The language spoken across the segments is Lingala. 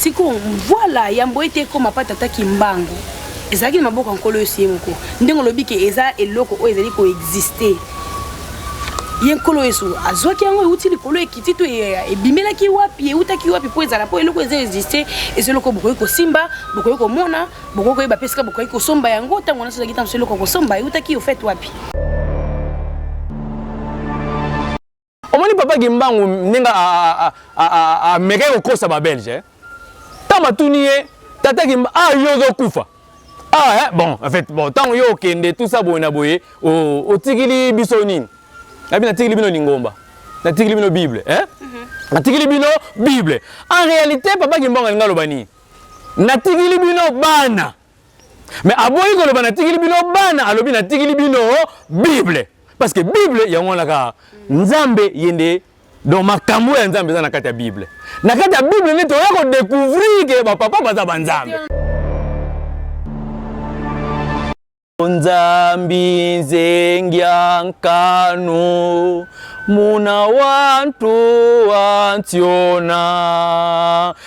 sikoyo voilà yambo ete ekoma mpa tata kimbangu ezalaki na maboko ya nkolo yesu ye moko ndenge olobi ke eza eloko oyo ezali koexiste ye nkolo yesu azwaki yango euti likolo ekiti to ebimelaki wapi eutaki wapi mpo ezala mpo eloko eza existe eza eloko bokoki kosimba bokoki komona bokoki koyeba mpe esika bokoki kosomba yango ntango wana sozalaki ntango so eloko kosomba eutaki ofete wapi omoni papa kimbangu ndenge amekaki kokosa babelge eh? ntango batuni ye tata kimba ah yo ozokufa ah eh, bon en fait bon ntango yo okende tout ça boye na boye otikili biso nini nabi natikili bino lingomba natikili bino bible eh? mm -hmm. natikili bino bible en réalité papa kimbangu alingi aloba nini natikili bino bana me aboyi koloba natikili bino bana alobi natikili bino bible parce que bible yango wana kaka nzambe ye nde donc makambo ya nzambe eza na kati ya bible na kati ya bible nde toya kodecouvrir ke bapapa baza banzambe nzambi nzengya nkanu muna wantu wantiona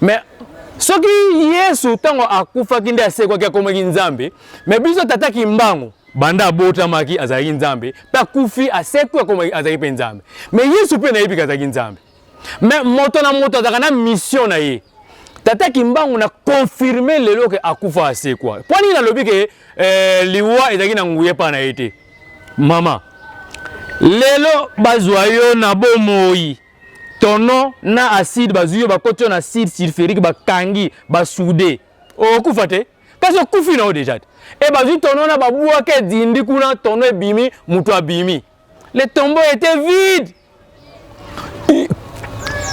mais soki yesu ntango akufaki nde asekwaki akomaki nzambe me biso tata kimbangu banda abotamaki azalaki nzambe mpe akufi asekwi akomaki azalaki mpe nzambe me yesu mpe nayebiki azalaki nzambe me moto na moto azalaka na mission na ye tata kimbangu na confirme lelo ke akufa asekwa mpo nini nalobi ke eh, liwa ezalaki na nguya epai na ye te mama lelo bazwa yo na bomoi tonon na acide bazwi yo bakoti yo na acide sulfurique bakangi basude okufa te kasi okufi na yo deja te e bazwi tonon na babwaka edindi kuna tonon ebimi moto abimi le tombeau était vide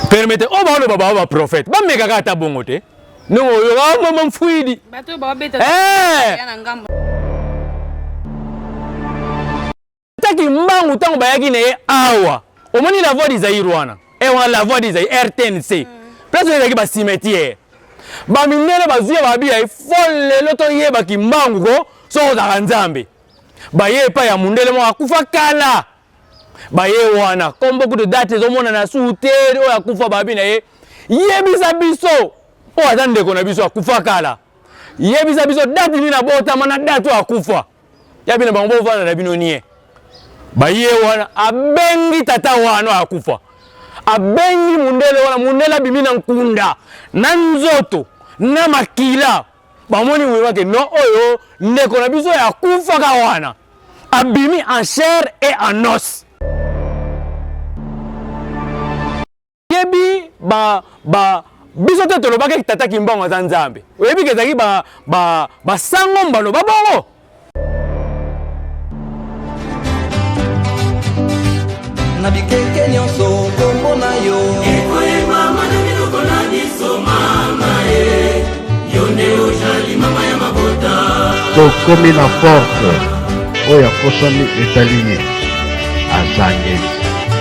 permete oyo baoloba bao baprofete bamekaka ata bongo te ndenge oyoka ah, mama mfuidi eh! Ata kimbangu ntango bayaki na ye awa, omoni la voix du Zaïre wana e eh, wana la voix du Zaïre RTNC mm. place wana ezalaki bacimetiere bamindele bazwi ya babi ya fo lelo toyeba kimbangu ko soki ozalaka nzambe baye epai ya mundele moko akufa kala baye wana kombo kutu date ezomonana su te oyo akufa babi na ye yebisa biso oyo aza ndeko na biso akufa kala yebisa biso date nini abotama na date oyo akufa Ya bino bango bovanda na bino nie. Baye wana abengi tata wana akufa. Abengi mundele wana mundele abimi na nkunda na nzoto na makila. Bamoni wima ke no oyo ndeko na biso ya kufaka wana abimi en chair et en os. oyebi ba ba biso te tolobaki ete tata kimbangu aza nzambe oyebi ke ezalaki basango ba, ba mbalo babongo na bikeke nyonso kombo na yo ekoyebama na biloko na biso mama e yo nde ojali mama ya mabota tokomi na porte oyo akosami etali ye azangeli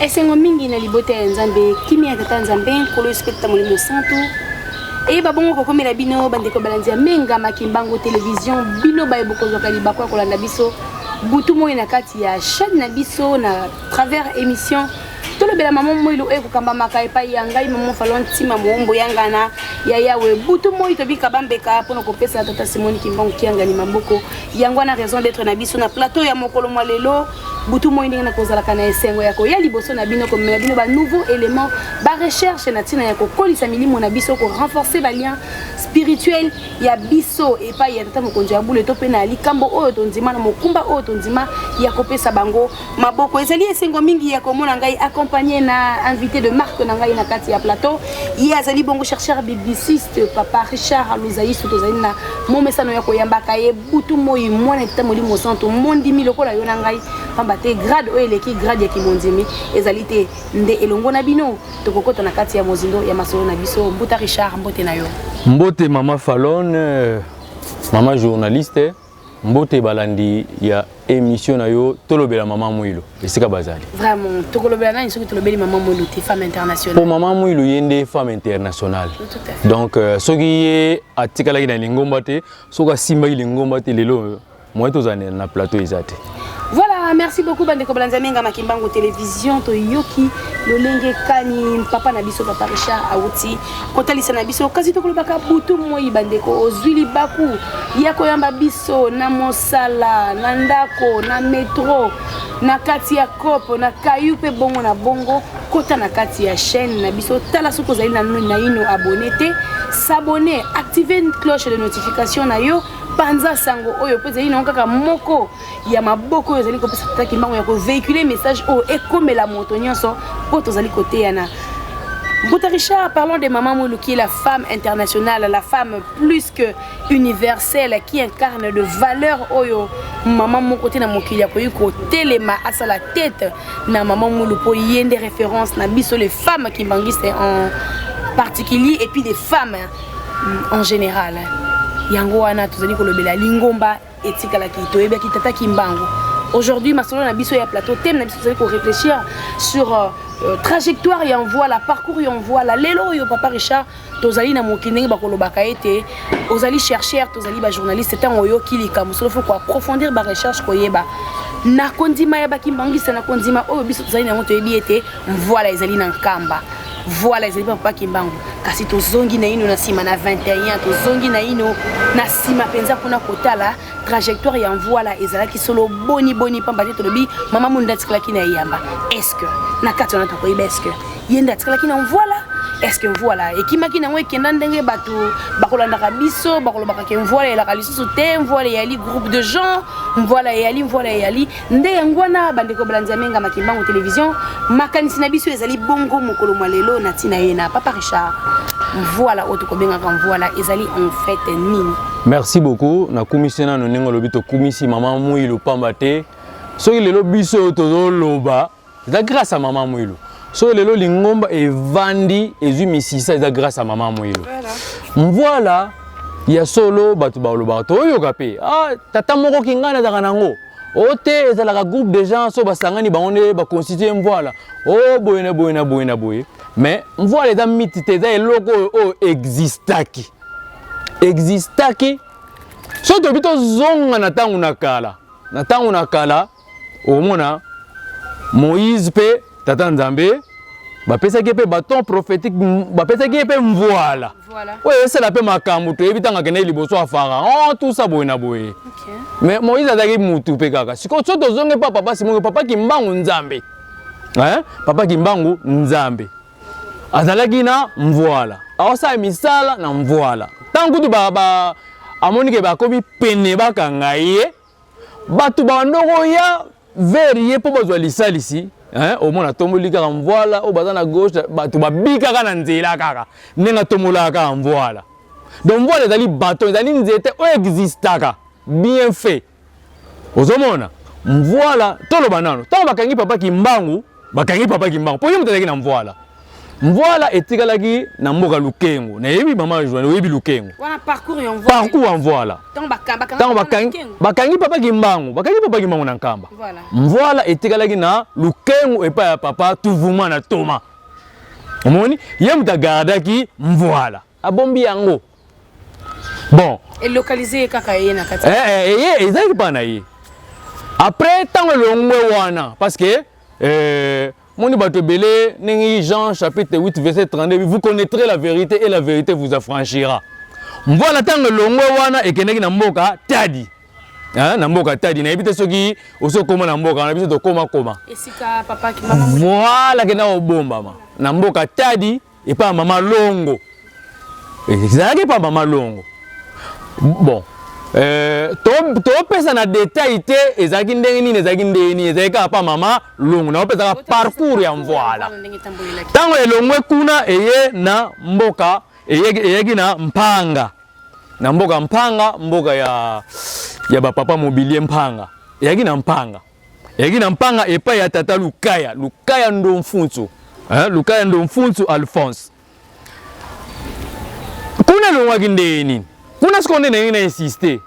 esengo mingi na libota ya nzambe kimia ya tata nzambe nkolo yesu mpe tata molimo santu eyeba bongo kokomela bino bandeko balandi ya menga makimbango televizio bino baye bokozwaka libako ya kolanda biso butu moi na kati ya chaîne na biso na travers émission tolobela mama moilo oyo ekokambamaka epai ya ngai mama falo ntima moombo ya ngana ya yawe butu moi tobika bambeka mpo na kopesa tata simoni kimbangu kiangani maboko yango wana raison d'être na biso na plateau ya mokolo mwa lelo butu moi ndenge nakozalaka na esengo ya koya liboso na bino komemela bino banouveau élément barecherche na ntina ya kokolisa milimo na biso korenforce balien spirituel ya biso epai ya tata mokonzi ya bule to mpe na likambo oyo tondima na mokumba oyo tondima ya kopesa bango maboko ezali esengo mingi ya komona ngai accompagné na invité de marque na ngai na kati ya plateau ye azali bongo chercheur bibliciste papa richard luzaisu tozali na momesano ya koyambaka ye butu moi mwana etata molimo santu mondimi lokola yo na ngai pamba te grade oyo eleki grade ya kimondimi ezali te nde elongo na bino tokokota na kati ya mozindo ya masolo na biso mbuta richard mbote na yo mbote mama falone mama journaliste Mbote balandi ya emission na yo tolobela mama Mwilu esika bazali. Vraiment tokolobela nani soki tolobeli mama Mwilu te femme internationale. Po mama Mwilu ye nde femme internationale. Donc euh, soki ye atikalaki na lingomba te soki asimbaki lingomba te lelo moyen tozala na plateau eza te. Voilà, merci beaucoup bandeko balanzamenga makimbangu television toyoki lolenge kani papa na biso papa Richard auti kotalisa na biso kasi tokolobaka butu moi bandeko ozwi libaku ya koyamba biso na mosala na ndako na metro na kati ya cope na kayu mpe bongo na bongo kota na kati ya chaîne na biso tala soki ozali naino abone te s'abonner activer cloche de notification na yo panza sango oyo mpo ezali nango kaka moko ya maboko oyo ezali kopesa tata kimbangu ya kovehicule message oyo ekomela moto nyonso mpo tozali koteyana Mbuta Richard, parlons de Maman Moulou qui est la femme internationale, la femme plus que universelle qui incarne de valeurs oyo maman moko te na mokili akoki kotelema asala tete na maman Moulou mpo ye nde référence na biso les femmes kimbanguistes en particulier et puis des femmes en général yango wana tozali kolobela lingomba etikalaki toyebaki tata kimbangu aujourd'hui masolo na biso ya plateau teme na biso tozali koréfléchir sur euh, euh, trajectoire ya envoi la parcours ya envoi la lelo oyo papa richard tozali na mokili ndenge bakolobaka ete ozali chercheur tozali bajournaliste ntango oyoki likambo solo fo koaprofondir barecherche koyeba na kondima ya bakimbangisa na kondima oyo biso tozali na yango toyebi ete mvoila ezali na nkamba Voilà, ezali papa Kimbangu. Kasi tozongi naino na sima na 21, tozongi naino na sima penza kuna kotala trajectoire ya Mvuala ezalaki solo boni boni pamba te tolobi mama Munda atikalaki na eyamba. Est-ce que na kati wana tokoyeba est-ce que ye nde atikalaki na Mvuala est-ce que Mvuala ekimaki nango ekenda ndenge bato bakolandaka biso bakolobaka ke Mvuala elaka lisusu te Mvuala eyali groupe de gens Mvuala eyali Mvuala eyali nde yango wana bandeko balandi ya mengama kimbangu television makanisi na biso ezali bongo mokolo mwa lelo na ntina ye na papa richard mvuala oyo tokobengaka mvuala ezali en fait nini merci beaucoup nakumisi nano ndenge olobi tokumisi mama muilu pamba te soki lelo biso tozoloba eza grâce ya mama mwilo so lelo lingomba evandi ezwi misisa eza grâce ya mama mwilo mvwala ya solo bato balobaka toyoka mpe ah, tata moko kingani azalaka nango o oh, te ezalaka groupe de gens so basangani bango nde baconstitue mvwala o oh, boye na boye na boye na boye mais mvwala eza miti te eza eloko oyo oyo existaki existaki soki tobi tozonga na ntango na kala na ntango na kala okomona moïse mpe tata nzambe bapesaki ye mpe baton prophétique bapesaki ye mpe mvuala oyo esala mpe makambo toyebi ntango akendaki liboso ya pharaon tusa boye na boye mais moïse azalaki mutu mpe kaka sikoyo so tozongi mpa papa simoyo papa kimbangu nzambe eh? papa kimbangu nzambe azalaki na mvuala aosala misala na mvuala ntango kutu amoni ke bakomi pene bakanga ye bato babanda koya vers ye mpo bazwa lisalisi omona atomboli kaka mvwala oyo baza na gauche bato babikaka na nzela kaka ndenge atombolaka kaka mvwala donc mvwala ezali baton ezali nzete oyo existaka bien fait ozomona mvwala toloba nano ntango bakangi papa kimbangu bakangi papa kimbangu mpo ye moto azalaki na mvwala mvwala etikalaki na mboka lukengo nayebi mama joane oyebi lukengo parcours ya mvwala ntango bakangi papa kimbangu bakangi papa kimbangu na nkamba mvwala etikalaki na lukengo epai ya papa tuvuma na toma omoni ye moto agardaki mvwala abombi yango bon elokalize ye kaka eye na kati eh, eh, eye ezalaki mpa na ye après ntango elongwe wana parce que euh, moni bato ebele ndenge jean chapitre 8 verset 32 vous connaîtrez la vérité et la vérité vous affranchira mvana ntango elongwe wana ekendeki na mboka tadi hein, na mboka tadi nayebi te soki osi okoma na mboka wana biso tokomakoma voilà kenda kobombama na mboka tadi epa mama longo ezalaki epa mama longo bon euh, topesa to na detail te ezalaki ndenge nini ezalaki ndenge nini ezalaki kaka pa mama longo naopesaka parcours ya mvoala ntango elongwe kuna eye na mboka eyaki na mpanga na mboka mpanga mboka ya, ya bapapa mobilie mpanga eyaki na mpanga Eyaki na mpanga epai ya tata Lukaya, Lukaya Ndomfunsu, eh, Lukaya Ndomfunsu Alphonse. Kuna elongwaki ndenge nini? Kuna sikoyo nde ndenge na insiste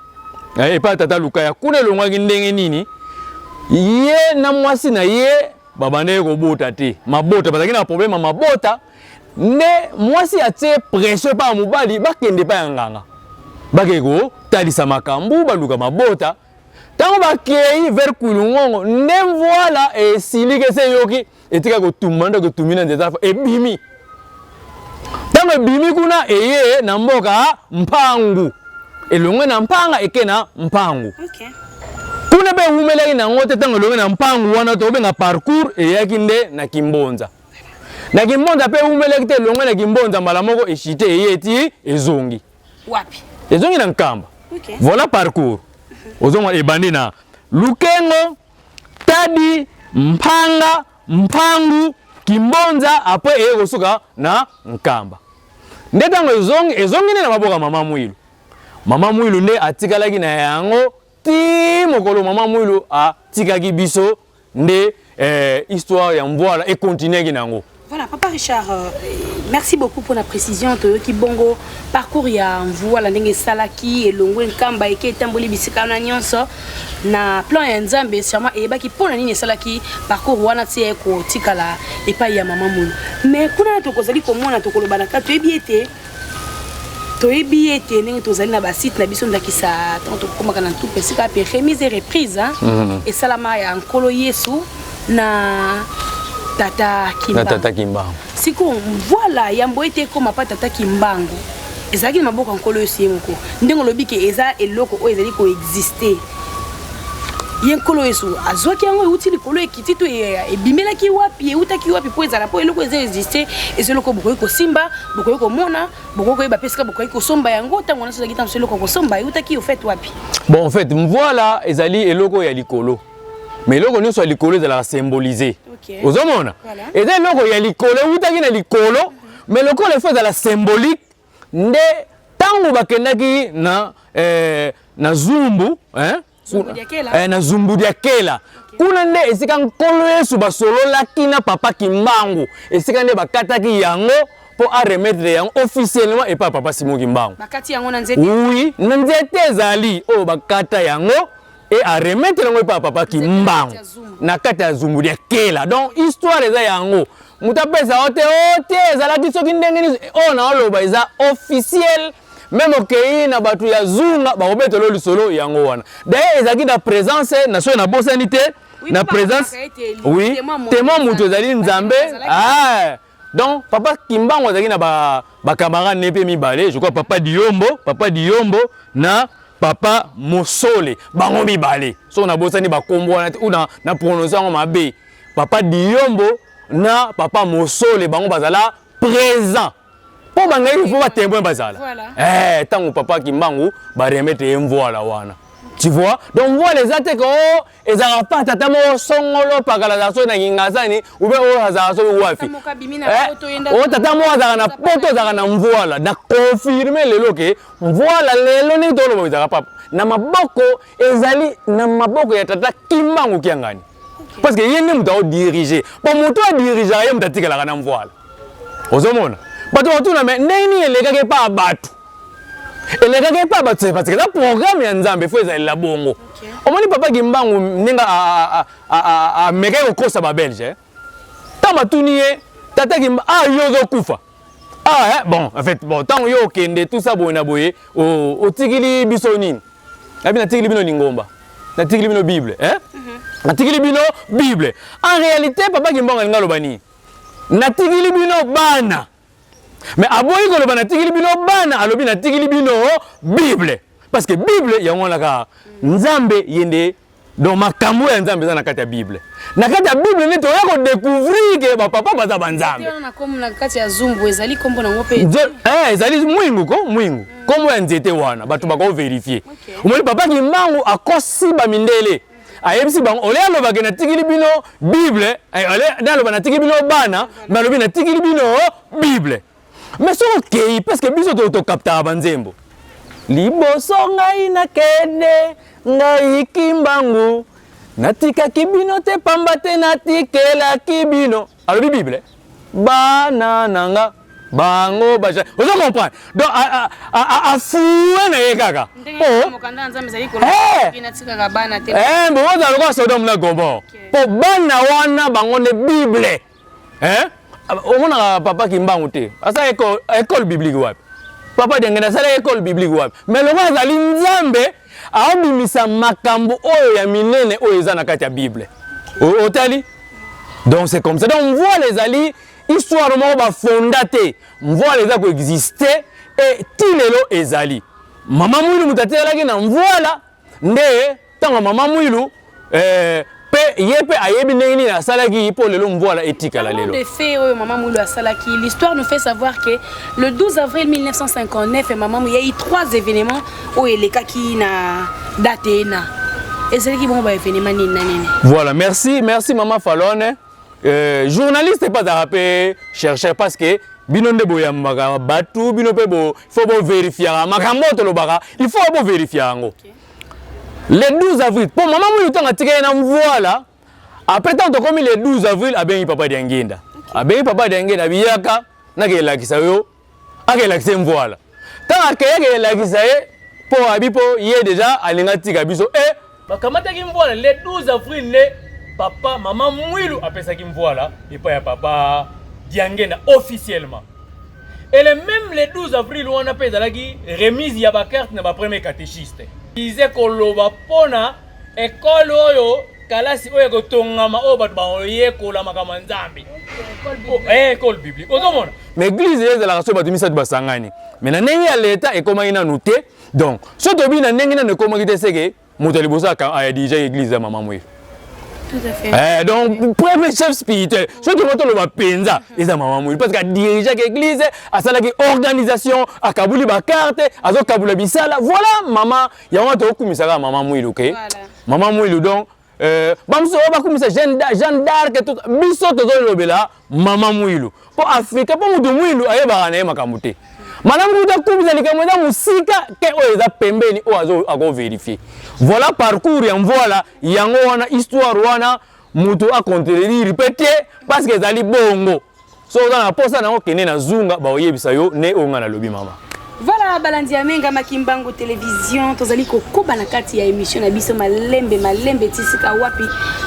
eh, epai ya tata Lukaya, kuna elongwaki ndenge nini? Ye na mwasi na ye babandaki kobota te, mabota bazalaki na problème ya mabota, nde mwasi atie pression epai ya mobali bakende epai ya nganga, bakende kotalisa makambo, baluka mabota ntango bakei vers kulungongo nde mvwala esiliki esi eyoki etika kotumba nde kotumbi na nzete ebimi ntango ebimi kuna eye na mboka mpangu elongwe na mpanga eke na mpangu okay. kuna mpe ewumelaki na yango te ntango elongwe na mpangu wana tokobenga parcours eyaki nde na kimbonza na kimbonza mpe ewumelaki te elongwe na kimbonza mbala moko eshite eye eti ezongi Wapi? Ezongi na Nkamba. Okay. Voilà parcours. Ozongo ebandi na Lukengo, Tadi, Mpanga, Mpangu, Kimbonza après eye kosuka na Nkamba. Nde ntango ezongi ezongi nde na maboko ya mama Mwilu. Mama Mwilu nde atikalaki na yango tii mokolo mama mwilo atikaki biso nde eh, histoire ya mvwala ekontinuaki na yango Voilà, Papa Richard, euh, merci beaucoup pour la précision. Toyoki bongo parcours ya mvua la ndenge salaki elongwe nkamba eke etamboli bisika na nyonso na plan ya Nzambe sûrement eyebaki mpo na nini salaki parcours wana ti ekotikala epai ya mama mulu. Mais kuna tokozali komona tokoloba na kati toyebi ete toyebi ye ete ndenge tozali na basite na biso ndakisa ntango tokomaka na ntuku esika mpe remise e reprise mhm. esalama ya nkolo yesu na tata kimbangu sikoyo voila yambo ete ekoma mpa tata kimbangu ezalaki na maboko ya nkolo yesu ye moko ndenge olobi ke eza eloko oyo ezali koexiste ye nkolo yesu azwaki yango euti likolo ekiti to ebimelaki wapi eutaki wapi mpo ezala mpo eloko eza existe eza eloko bokoki kosimba bokoki komona bokoki koyeba mpe esika bokoki kosomba yango ntango nyonso ozalaki ntango eloko kosomba eutaki ofete wapi bon en fait mvoila ezali eloko ya likolo mais eloko nyonso ya likolo ezalaka symbolise okay. ozomona voilà. eza eloko ya likolo eutaki na likolo mais lokola efo ezala symbolique nde ntango bakendaki na eh, na zumbu eh, eh, na zumbu dia kela kuna nde esika nkolo yesu basololaki na papa kimbangu esika nde bakataki yango mpo aremettre yango officiellement epai papa simo kimbangu oui na nzete ezali oyo bakata yango et a remettre yango epa papa kimbangu na kati ya zumbu ya kela donc histoire eza yango moto apesa yo te o te ezalaki soki ndenge nini oyo naoloba eza officiel meme okei na bato ya zunga bakobetelo lisolo yango wana daye ezalaki na présence na soki nabosani te na présence oui témoin moto ezali nzambe ah. Donc papa Kimbangu azalaki na ba ba camarades ne pe mibale, je crois papa Diombo, papa Diombo na papa Mosole, bango mibale. So na bosani ba kombo wana ou na na prononcer yango mabe. Papa Diombo na papa Mosole bango bazala présent. Po bangaki il faut ba témoin bazala. Voilà. Eh tango papa Kimbangu ba remettre ye mvoila wana. Tu vois? Donc mvoila eza te ko ezalaka pa tata moko songolo pakala azala soki na kingazani ube oyo azalaka soki wapi eh, oyo tata moko azalaka na poto azalaka na mvuala na confirme lelo ke mvuala lelo ndenge toloba ezalaka papa na maboko ezali na maboko ya tata kimbangu kiangani parce que ye nde moto aodirige po moto adirigeaka ye moto atikalaka na mvuala ozomona bato bakotuna me ndenge nini elekaki epai ya bato elekaki epai ya bato parce que eza programme ya nzambe fo ezalela bongo omoni papa kimbangu ndenge amekaki kokosa babelge eh? ntango batuni ye tata kimba ah yo ozokufa ah eh, bon en fait bon ntango yo okende tout ça boye na boye otikili biso nini abi natikili bino lingomba natikili bino bible eh? Mhm. natikili bino bible en réalité papa kimbangu alingi aloba nini natikili bino bana me aboyi koloba natikili bino bana alobi natikili bino bible parce que bible yango wana kaka nzambe ye nde donc makambo ya nzambe eza na kati ya bible na kati ya bible nde toya kodecouvrir ke bapapa baza banzambe eh, ezali mwingu ko mwingu nkombo ya nzete wana bato bakoverifie omoni papa kimbangu akosi bamindele ayebisi bango ole alobake natikili bino bible eh, ole naloba natikili bino bana balobi natikili bino bible mais soki okei parceke biso tokaptaka banzembo liboso ngai nakende ngai kimbangu natikaki bino te pamba te natikelaki bino alobi bible bana na nga bango baza ozo comprendre donc afue na ye kaka bokozala lokola sodome na gomor mpo bana wana bango nde bible omonaka papa kimbangu te asala école biblique wapi papa dengene asala école biblique wapi mais lokola azali nzambe aobimisa makambo oyo ya minene oyo eza na kati ya bible otali donc c'est comme ça donc mvwala ezali histoire moko bafonda te mvwala eza koexiste e ti lelo ezali mama mwilu moto atelelaki na mvwala nde ntango mama mwilu eh, pe ye pe ayebi ndenge nini asalaki mpo lelo mvwala etikala lelo de fait oyo mama mulu asalaki l'histoire nous fait savoir que le 12 avril 1959 mama mulu yai trois événements oyo elekaki na date ena ezalaki bongo baévénement nini na nini voilà merci merci mama falone euh, journaliste epa azalaka mpe chercheur parce que bino nde boyambaka bato bino mpe fo boverifiaka makambo oyo tolobaka il faut boverifiaka yango okay. le 12 avril mpo mama mulu ntango atika ye na mvuala apres ntango tokomi le 12 avril abengi papa diangenda abengi papa diangenda abiyaka nakelakisa yo akelakisa ye mvuala ntango akeyaki elakisa ye mpo abi mpo ye deja alinga tika biso e eh, bakamataki mvuala le 12 avril nde papa mama mwilu apesaki mvuala epai ya papa diangenda officiellement Et le même le 12 avril wana pe ezalaki remise ya ba carte na ba premier catéchiste. Ize koloba pona école oyo kalasi oyo ekotongama oyo bato baoyekola makambo ya nzambe ekole biblique ozomona ma eglize ye ezalaka so bato misato basangani me na ndenge ya leta ekomaki nanu te donc so tobi na ndenge nanu ekomaki te seke moto ya liboso aya dirija eglise ya mama moye Eh, donc premier chef spirituel soki moto oloba mpenza eza mama moyi parce que adirigeaki église asalaki organisation akabuli bakarte azokabula bisala voilà mama yango wana tokokumisaka mama mwilu ke okay? mama mwilu donc euh, bamosusu oyo bakumisa jeanne d'arc biso tozolobela mama mwilu po afrika po moto mwilu ayebaka na ye makambo te malamu kuta kumisa likambo eza mosika te oyo eza pembeni oyo akoverifie voilà parcours ya mvwala yango wana histoire wana moto acontrerire mpe te parce que ezali bongo soki oza na mposa nango kende na zunga bakoyebisa yo nde oyo ngai nalobi mama Voilà balandi ya menga makimbangu television tozali kokoba na kati ya émission na biso malembe malembe tisika wapi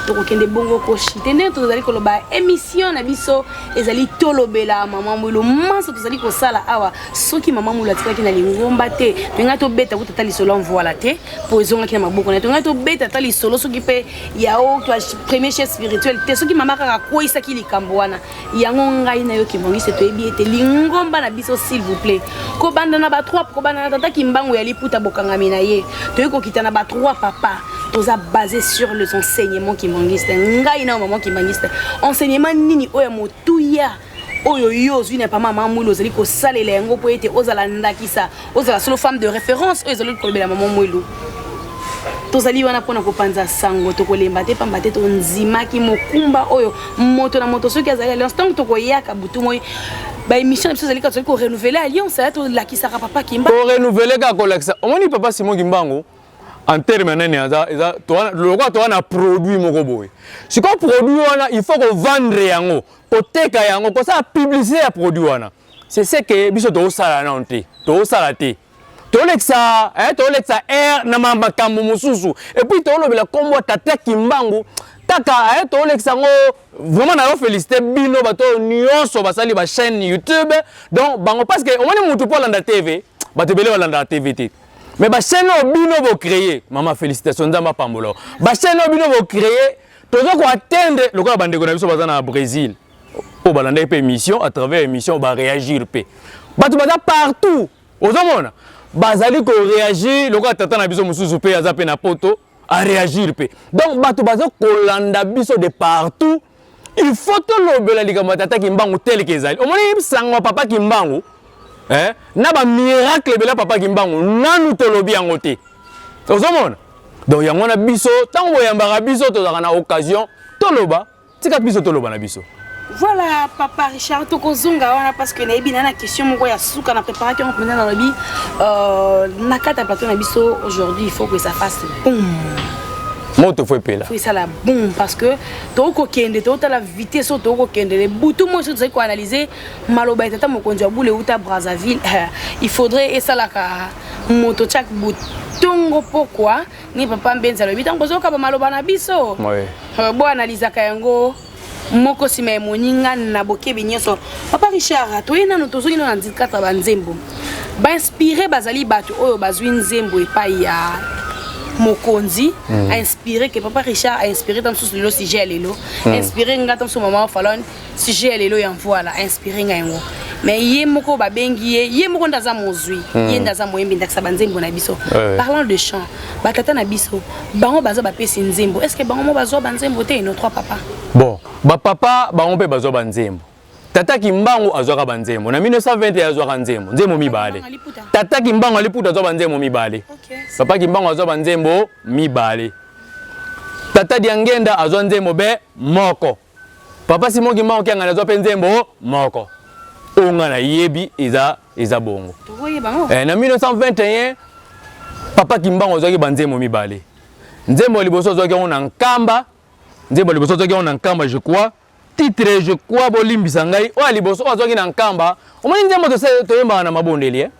tokokende bongo koshite ndenge tozali koloba émission na biso ezali tolobela mama mwilo manso tozali kosala awa soki mama mwilo atikaki na lingomba te tolingai tobeta kuta ata lisolo amvoila te mpo ezongaki na maboko na ye tolingai tobeta ata lisolo soki mpe yao premier chef spirituel te soki mama kaka akweisaki likambo wana yango ngai na yo kibongiste toyebi ete lingomba na biso s'il vous plaît kobanda na batrop kobanda na tata kimbangu ya liputa bokangami na ye toyei kokita na batroi papa toza basé sur les enseignements kimbangiste ngai na maman kimbangiste enseignement nini oyo ya motuya oyo yo ozwi na pama mamwili ozali kosalela yango mpo ete ozala ndakisa ozala solo femme de référence oyo ezali kolobela mama mwelu tozali wana mpona kopanza sango tokolemba te mpamba te tondimaki mokumba oyo moto na moto soki azali alliance ntango tokoyaka butu moi baémission na biso ezali kaka tozali korenouvele alliance ya tolakisaka papa kimba korenouvele kaka kolakisa omoni papa simon kimbangu en terme ya nani aza eza lokola toza na produit moko boye sikoyo produit wana il faut kovendre yango koteka yango kosala publicité ya produit wana c'est ce que biso tokosala nano te tokosala te tolekisa eh, tolekisa air na makambo mosusu epuis tolobela nkombo ya tata kimbangu kaka eh, tolekisa yango vraiment nayo félicité bino bato oyo nyonso basali bachaîne youtube donc bango parce que omoni motu mpo alanda tv bato ebele balandaka tv te mais bachaîne oyo bino bocreye mama félicitation nzambe apambola bachaîne oyo bino bocreye toza koatteindre lokola bandeko na biso baza na brésil oyo balandaki mpe émission à travers émission baréagir mpe bato baza partout ozomona bazali koréagir lokola tata na biso mosusu mpe aza mpe na poto aréagir mpe donc bato baza kolanda biso de partout il faut tolobela likambo ya tata kimbangu teleke ezali omoni sango ya papa kimbangu eh? na bamiracle ebele ya papa kimbangu nanu tolobi yango te ozomona donc yango wana biso ntango boyambaka biso tozalaka na occasion toloba Tika biso toloba na biso. Voilà, papa Richard, tokozonga wana parce que nayebi na na question moko ya suka na préparaki yango mpenza nalobi euh, na kati ya plateau na biso aujourd'hui il faut que ça fasse boum moto fo epela fo esala boum parce que tokoki kokende tokotala vitesse oyo tokoki kokende le butu moi soki tozali koanalyse maloba ya tata mokonzi ya bule euta brazzaville il faudrait esalaka moto chak butu ntongo pokwa ni papa mbenzi alobi ntango bozoyoka bamaloba na biso euh, boanalizaka yango moko nsima ya moninga na bokebi nyonso papa richard toye nano tozongi nano na ndikata banzembo bainspire bazali bato oyo bazwi nzembo epai ya mokonzi mm. ainspire ke papa richard ainspire ta mosusu lelo sujet ya lelo mm. inspire nga ta mosusu mama falone sujet ya lelo ya mvuala a inspire ngai yango mais ye moko babengi ye ye moko nde aza mozwi hmm. ye nde aza moyembi ndakisa banzembo na biso parlant de chant batata na biso bango baza bapesi nzembo est ce que bango mo bazwa banzembo te no trois papa bon bapapa bango mpe bazwa banzembo tata kimbangu azwaka banzembo na 1920 azwaka nzembo nzembo mibale tata kimbangu aliputa azwa banzembo mibale papa kimbangu azwa banzembo mibale tata diangenda azwa nzembo be moko Papa Simon Kimbangu Kiangani azwa mpe nzembo moko oyo ngai nayebi eza eza bongo eh, na 1921 papa Kimbangu azwaki banzembo mibale nzembo ya liboso azwaki yango na nkamba nzembo ya liboso azwaki yango na nkamba je crois titre je crois bolimbisa ngai oyo ya liboso oyo azwaki na nkamba omoni nzembo toyembaka na mabondeli eh?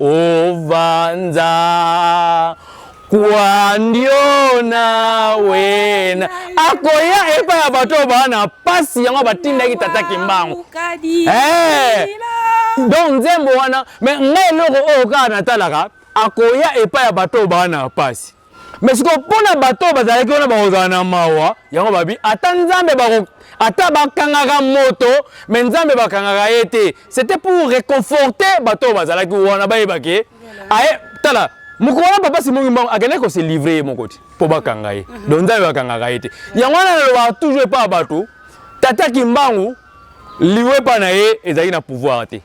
Ovanza kwandio na wena akoya epa ya bato oyo baa na mpasi yango batindaki tata kimbangu eh! donc nzembo wana me ngai eloko oyo kaka natalaka akoya epai ya bato oyo baa na mpasi mais sikoyo mpo na bato oyo bazalaki wana bakozala na mawa yango babi ata nzambe bako ata bakangaka moto mais nzambe bakangaka ye te c'était pour réconforter bato oyo bazalaki wana bayebake aye tala mokolo wana papa simongi mbango akendaki kose livre ye moko te mpo bakanga ye mhm. donc nzambe bakangaka ye te yango wana nalobaka toujours epa bato tata kimbangu liwepa na ye ezalaki na pouvoir te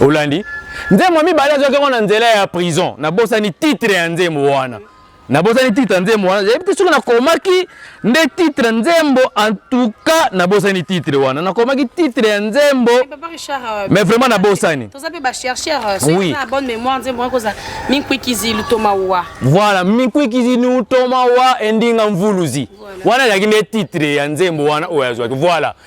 olandi nzembo ya mibale azwaki yango na nzela ya prison nabosani titre ya nzembo wana nabosani titre nzembo wana yebi te soki nakomaki nde titre nzembo en tout cas nabosani titre wana nakomaki titre ya nzembo eh, euh, mais vraiment nabosani euh, oui. voilà minkwikizilutomawa endinga mvuluzi wana ezalaki nde titre ya nzembo wana oyo azwaki voilà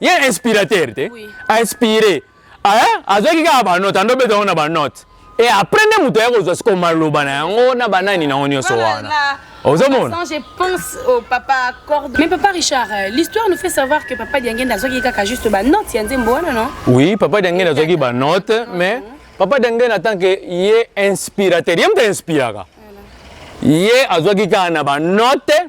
ye inspirateur te oui. a inspire azwaki kaka banote ando obeta yango na banote e après nde moto aya kozwa sikoyo maloba na yango na banani na yango nyonso wana ozomona je pense au papa corde mais papa richard euh, l'histoire nous fait savoir que papa diangenda azwaki kaka juste banote ya nzembo wana non oui papa diangenda azwaki banote mais papa diangenda tant que ye inspirateur ye moto inspiraka ye azwaki kaka na banote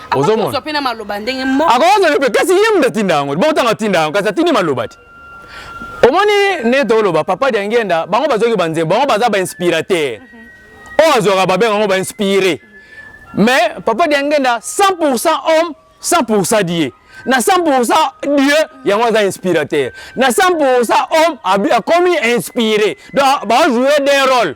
ozomona akozwa pe na maloba ndenge moko akozwa pe kasi ye mutu atinda yango bongo ntango atinda yango kasi atindi maloba te omoni nete oloba papa diangenda bango bazoki banzembo bango baza bainspirateur mhm. oyo azwaka babenga yango bainspire mais papa diangenda 100 pourcent homme 100 pourcent die na 100% dieu yango aza inspirateur na 100% homme akomi inspiré donc bajoue des rôles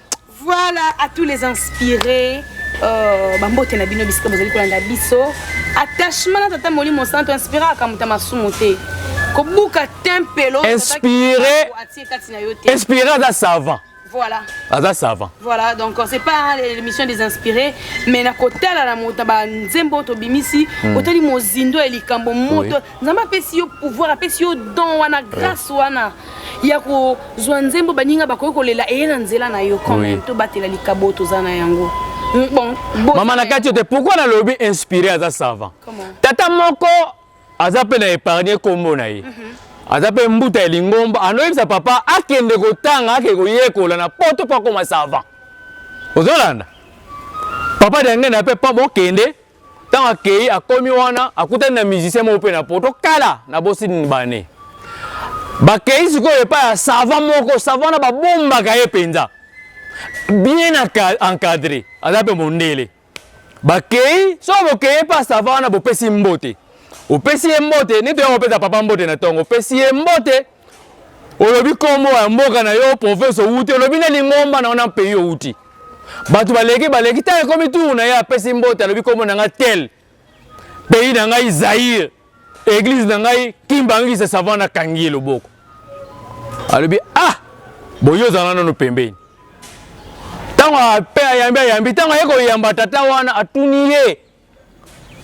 Voilà à tous les inspirés euh, bambote na bino bisika bozali kolanda biso attachement na tata molimo santo inspiraka moto ya masumu te kobuka tempelo inspire atie kati na yo te inspire aza savant voilà aza savant voilà donc c'est pas l'émission des inspirés mais na kotala na moto na banzembo oyo tobimisi hmm. otali mozindo ya likambo moto oui. nzambe apesi yo pouvoir apesi yo don wana eh. grâce wana ya kozwa nzembo baninga bakoki kolela eye na nzela na yo kome tobatela likabo toza na yango mm, bon, mama na kati te pourkui nalobi inspiré aza savant tata moko aza mpe na épargne nkombo na ye mhm. aza mpe mbuta ya lingomba anoyebisa papa akende kotanga akende koyekola na poto mpo akoma savant ozolanda papa diangenda mpe mpo bokende Ntango akei, akomi wana, akutani na musicien moko mpe na poto kala na bosi nbane. Bakei sikoyo epai ya sava moko, sava wana babombaka ye mpenza, bien encadre, aza mpe mondele. Bakei soko bokei epai ya sava wana, bopesi mbote, opesi ye mbote, neti oya kopesa papa mbote na ntongo, opesi ye mbote olobi kombo ya mboka na yo province owuti olobi na lingomba na ona pays owuti bato baleki baleki ntango ekomi tour na ye apesi mbote alobi kombo na ngai tel pays na ngai zaire eglise na ngai kimbangisa savant akangi ye loboko alobi ah boye ozala nano pembeni ntango ape ayambi ayambi ntango aye koyamba tata wana atuni ye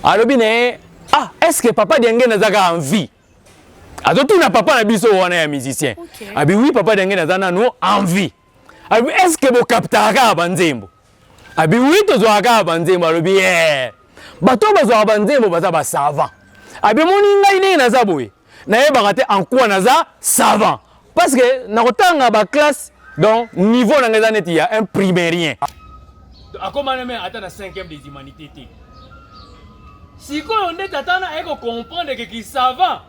alobi na ye ah est ce que papa diange nazaka envie azotuna papa na biso wana ya musicien okay. abi wi papa denge naza nano envie abi est ce que bokaptaka kaka banzembo abi wi tozwaka kaka banzembo alobi ye eh, bato oyo bazwaka banzembo baza basavant abi moni ngai ndenge naza boye nayebaka te en quoi naza savant Parce que na kotanga ba classe donc niveau na ngeza neti ya un primairien. Akoma na mais ata na 5e des humanités te. Sikoyo nde tata na eko comprendre que ki savant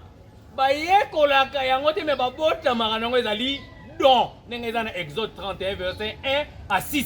bayekolaka yango te me babotamaka nango ezali don ndenge eza na exode 31 verset 1 à 6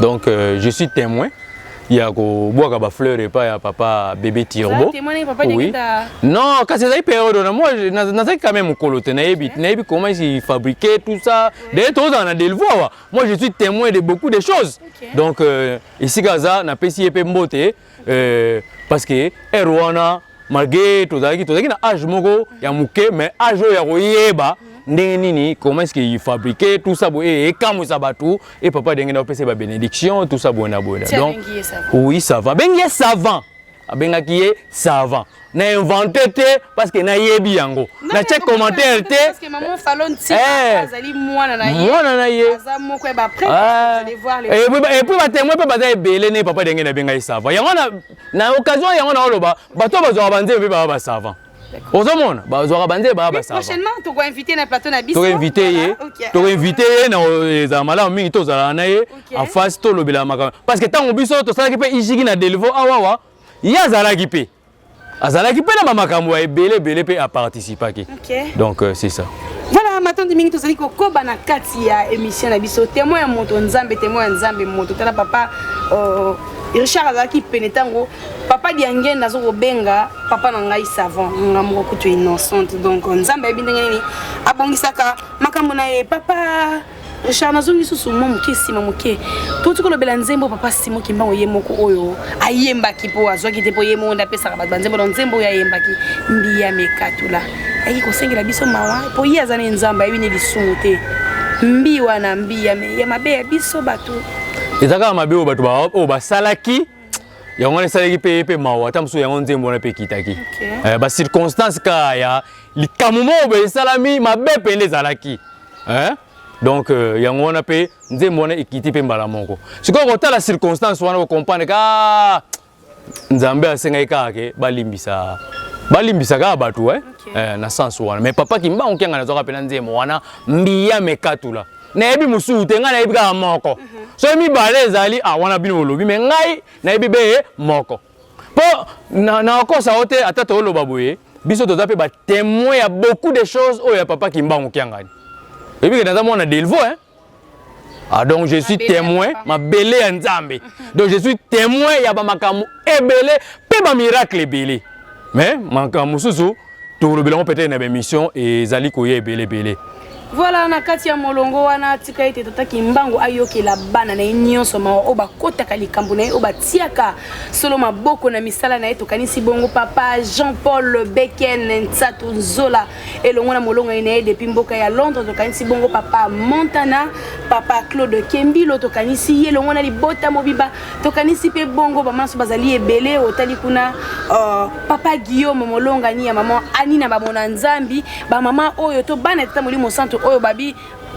Donc euh, je suis témoin ya kobwaka bafleur epai ya papa bebe turbo oui. non kasi ezali periode wana moi nazalaki kame mokolo te nayebi nayebi comment si fabriquer tout ça daye tozala na delvo awa moi je suis témoin de beaucoup de choses donc euh, esika aza napesi ye mpe mbote euh, parce que heure wana malgré tozalaki tozalaki na age moko ya moke mais age oyo ya koyeba ndenge nini comment est-ce qu'il fabriquait tout ça boye ekamwisa bato e papa denge na opesa ba bénédiction tout ça boye na boye donc oui savant abengi ye savant abengaki ye savant na invente te parce que nayebi yango natye commentaire te eh. mwana na ye epuis batemoin mpe baza ebele ne papa denge na be ngai savant yango na occasion yango naoloba bato bazwaka banzembe mpe baba basavant ozomona bazwaka banzembe baba basavantokoinvite ye tokoinvite ye na ezala malamu mingi tozalaka na ye afasi tolobela makambo parce que ntango biso tosalaki mpe ijiki na delivaux awawa ah, ye azalaki mpe azalaki mpe na bamakambo ya ebele ebele mpe aparticipaki okay. donc euh, c'est ça voilà matondi mingi tozali kokoba na kati ya émission na biso témoin ya moto nzambe témoin ya nzambe moto tala papa euh, richard azalaki pene ntango papa diange nazo kobenga papa na ngai savant nga moko kutu innocente donc nzambe ayebi ndenge nini abongisaka makambo na ye papa Richard nazongi lisusu mwa moke nsima moke touti kolobela nzembo papa simo kimbango ye moko oyo ayembaki mpo azwaki te mpo ye moko nde apesaka bato banzembo na nzembo oyo ayembaki mbiya mekatula ayaki kosengela biso mawa mpo ye aza ne nzambe ayebi ne lisumu te mbi wana mbiya ya mabe ya biso bato eza kaka mabe oyo bato oyo basalaki yango wana esalaki mpe ye mpe mawa ata mosusu yango nzembo wana mpe ekitaki eh, bacirconstance kaka ya likambo moko boye esalami mabe mpe nde ezalaki hein? donc euh, yango wana mpe nzembo wana ekiti mpe mbala moko sikoyo kotala circonstance wana okomprendre ka ah, nzambe asengaki kaka ke balimbisa balimbisa kaka bato eh? okay. eh, na sens wana mais papa kimbangu kianga nazwaka mpe na nzembo wana mbiya mekatula nayebi mosusu te ngai nayebi kaka moko mhm. soki mibale ezali ah, wana bino bolobi me ngai nayebi be moko Po na na kosa ote ata to loba boye biso toza pe ba témoins ya beaucoup de choses oyo ya papa Kimbangu Kiangani. Et puis que dans mon Delvo hein. Ah donc je suis témoin ma belle ya Nzambe. Donc je suis témoin ya ba makambo ebele pe ba miracle ebele. Mais makambo mususu tokolobela yango peut-être na baémission ezali koya ebele ebele voilà na kati ya molongo wana tika ete tata kimbangu ayokela bana na ye nyonso mawa oyo bakotaka likambo na ye oyo batiaka solo maboko na misala na ye tokanisi bongo papa jean paul beken nsatu nzola elongo na molongani na ye depuis mboka ya londres tokanisi bongo papa montana papa claude kembilo tokanisi ye elongo na libota mobimba tokanisi mpe bongo bamama so bazali ebele otali kuna uh, papa guillaume molongani ya mama ani na bamona nzambi bamama oyo to bana tata molimo santu oyo babi